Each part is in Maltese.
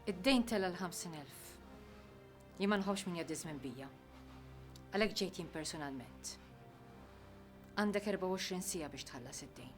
Id-dejn tela l-50,000. Jien ma nħobbx min jaddiż minn bija. Għalhekk ġejt jien personalment. Għandek 24 sija biex tħallas id-dejn.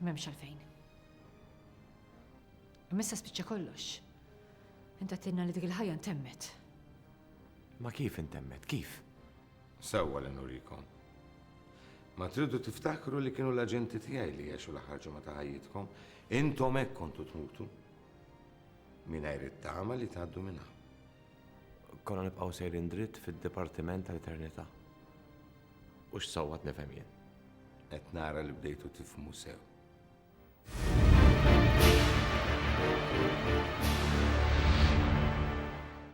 M'hemmx għalfejn. Imma issa spiċċa kollox. Int għattilna li dik il-ħajja ntemmet. Ma kif intemmet, kif? Sewwa li nurikom. Ma tridu tiftakru li kienu l-aġenti tiegħi li għexu l-aħħar ġimgħa ta' ħajjitkom, intom hekk kontu tmutu. Mingħajr it-tama li tgħaddu minnha. Konna nibqgħu sejrin dritt fid-dipartiment tal-eternità. U x'sawwat nifhem jien. Qed nara li bdejtu tifhmu sew.